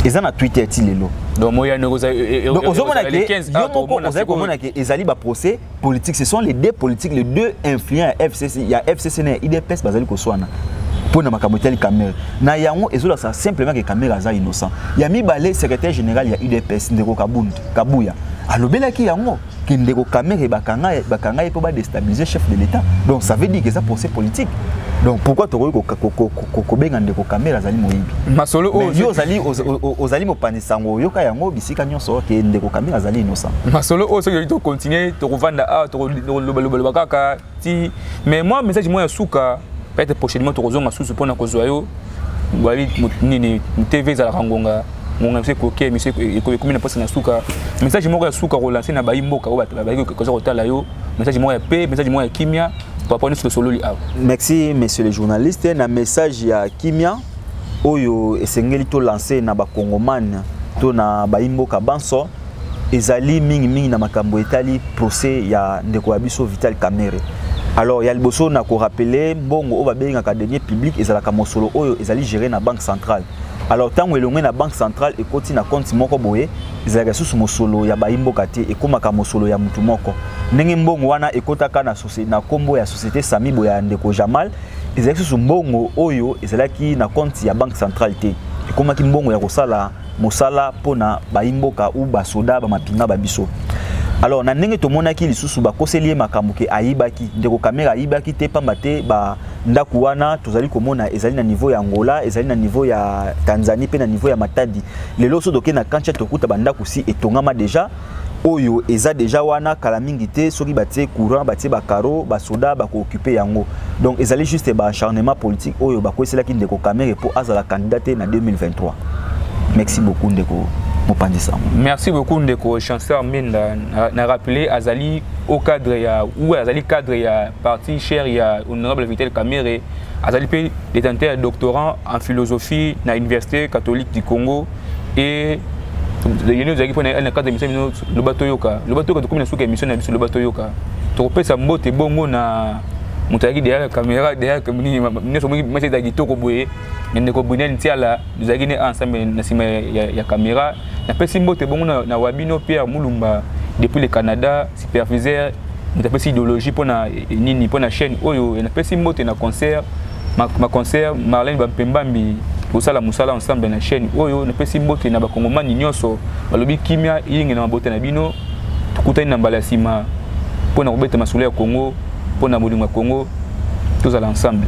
Eza na Twitter ti lelo. Donc moyano ozali ozomona ke yo moko ozali komona ke ezali ba procès politique ce sont les deux politiques les deux influents ya fcc ya fcc na ya idps bazali koswana mpo na makambo etali camere na yango ezolakisa simplement ke camere aza innocent ya mibale secrétaire général ya udps ndeko kabund kabuya alobelaki yango ke ndeko camere bakanga ye mpo badestabilise chef de l'état donc ça veut dire que eza procès politique donc pourquoi tokoki kobenga ndeko camere azali moyibi masolo oyo ozali mopanzi sango oyoka yango bisika nyonso ke ndeko kabila azali innocent masolo oyo soki to continuer tokovanda awa tokolobaloba kaka ti mais moi message moi ya suka peut-être prochainement tokozonga susu mpona kozwa yo bali nini tv ezalaka ngonga ngonga biso ekoki miso ekomi na mposa na suka message moko ya suka kolanse na bayi mboka oyo bato bazali koza kotala yo message moko ya pe message moko ya kimia papa nyonso tosololi awa merci monsieur le journaliste na message ya kimia oyo esengeli to lancer na bakongomane to na bayimboka banso ezali mingimingi na makambo etali procès ya ndeko ya biso vital kamere alors ya liboso na korapele mbongo oyo babengaka denier public ezalaka mosolo oyo ezali gere na banque centrale alors ntango elongue na banque centrale ekoti na compte moko boye ezalaka lisusu mosolo ya bayimboka te ekomaka mosolo ya motu moko ndenge mbongo wana ekotaka na nkombo ya société sami boye ya ndeko jamal ezalaki susu mbongo oyo ezalaki na compte ya banque centrale te ekomaki mbongo ya kosala mosala mpo na bayimboka u basoda bamapinga ba biso alors na ndenge tomonaki lisusu bakoseli ye makambo ke ayibaki ndeko kamera ayibaki te mpamba te ba ndako wana tozali komona ezali na niveau ya angola ezali na niveau ya tanzanie mpe na niveau ya matadi lelo so toke na kantia tokuta bandako si etongama deja oyo eza deja wana kala mingi te soki batie courant batie bacaro basoda bakookipe yango donc ezali juste baacharnement politique oyo bakweselaki ndeko kamere mpo azala candidat te na 2023 merci beaucoup ndeko mopanzi sango merci beaucoup ndeko chanceur minda na, na rappele azali au cadre ya ou azali cadre ya parti cher ya honorable vitel kamere azali mpe détenteur ya doctorant en philosophie na université catholique du congo et yeni ozalaki mpo na kati ya misala bino loba toyoka loba toyoka tokomi na suka ya mission na biso loba toyoka tokopesa mbote bongo na moto ayaki derrière caméra derrière nini nyonso omoni masi ezala kitoko boye na ndeko brunel ntiala tozalaki ne ensemble na nsima ya caméra napesi mbote bongo na wabino pierre mulumba depuis le canada superviseur moto apesi idéologie mpo na nini mpo na chaîne oyo napesi mbote na concert ma, ma conseillère Marlène Bampembambi kosala mosala ensemble na chaîne oyo napesi mbote na bakongomani nyonso balobi kimia yenge na mabota na bino tokutani na mbala ya nsima mpo na kobeta masolo ya congo mpo na bolingo ya congo tozala ensemble